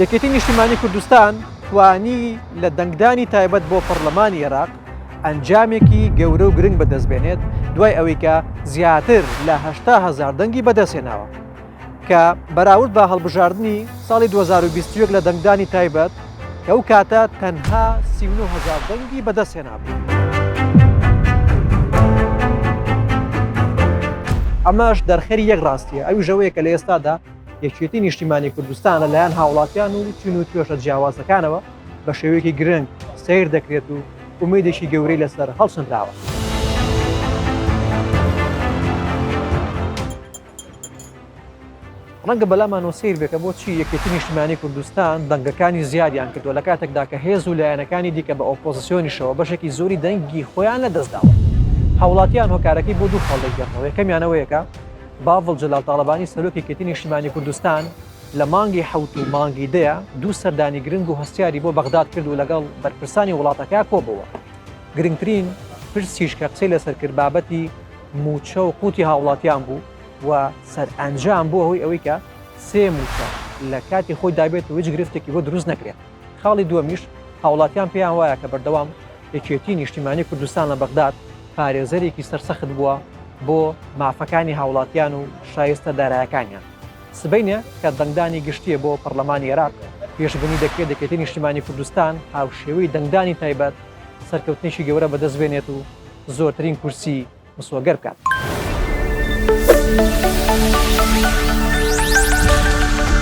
یەکێتی نیشتیمانی کوردستان توانی لە دەنگدانی تایبەت بۆ پەرلەمانی عێراق ئەنجامێکی گەورە و گرنگ بەدەستبێنێت دوای ئەوەی کە زیاتر لە هشتا هزار دەنگی بەدەستێناوە کە بەراورد بە هەڵبژاردننی ساڵی 2021 لە دەنگدانی تایبەت کە ئەو کاتە تەنها 39هزار دەنگی بەدەستێنابوو. ئەمەش دەرخەری یەک ڕاستیە ئەوی ژەوەیە کە لە ئێستادا یەکێتی نیشتیمانی کوردستان لەلایەن هاوڵاتیان و چین و توێشە جیاوازەکانەوە بە شێوەیەکی گرنگ سیر دەکرێت و ئومێدێکی گەورەی لەسەر هەڵسنراوە. ڕەنگە بەلامانەوە سیر بێکە بۆچی یەکێتی نیشتمانی کوردستان دەنگەکانی زیادیان کردو لە کاتێکدا کە هێز و لایەنەکانی دیکە بە ئۆپۆزیسیۆنیشەوە بەشێکی زۆری دەنگی خۆیان لە دەستداوە هاوڵاتیان هۆکارەکەی بۆ دوو خەڵێک گەڕەوە یەکەمیانەوەیەکە باڤڵ جەلال تاڵەبانی سەرۆک یەکێتی نیشتیمانی کوردستان لە مانگی حوت و مانگی دەیە دوو سەردانی گرنگ و هەستیاری بۆ بەغداد کرد و لەگەڵ بەرپرسانی وڵاتەکە کۆبەوە گرنگترین پرسیش کە قسەی لەسەر کرد بابەتی موچە و قوتی هاوڵاتیان بوو و سەرئەنجام بووە هۆی ئەوەی کە سێ موچە لە کاتی خۆی دابێت و هیچ گرفتێکی بۆ دروست نەکرێت خاڵی دووەمیش هاوڵاتیان پێیان وایە کە بەردەوام یەکێتی نیشتیمانی کوردستان لە بەغداد پارێزەرێکی سەرسەخت بووە بۆ مافەکانی هاوڵاتیان و شایستە دارایەکانیان سبینێ کە دەنگدانی گشتیە بۆ پەرلەمانی عێراق پێشبنی دەکرێت دەکێتی نیشتیمانی کوردستان هاوشێوەی دەنگدانی تایبەت سەرکەوتنێکی گەورە بەدەست بێنێت و زۆرترین کورسی مسۆگەر بکات.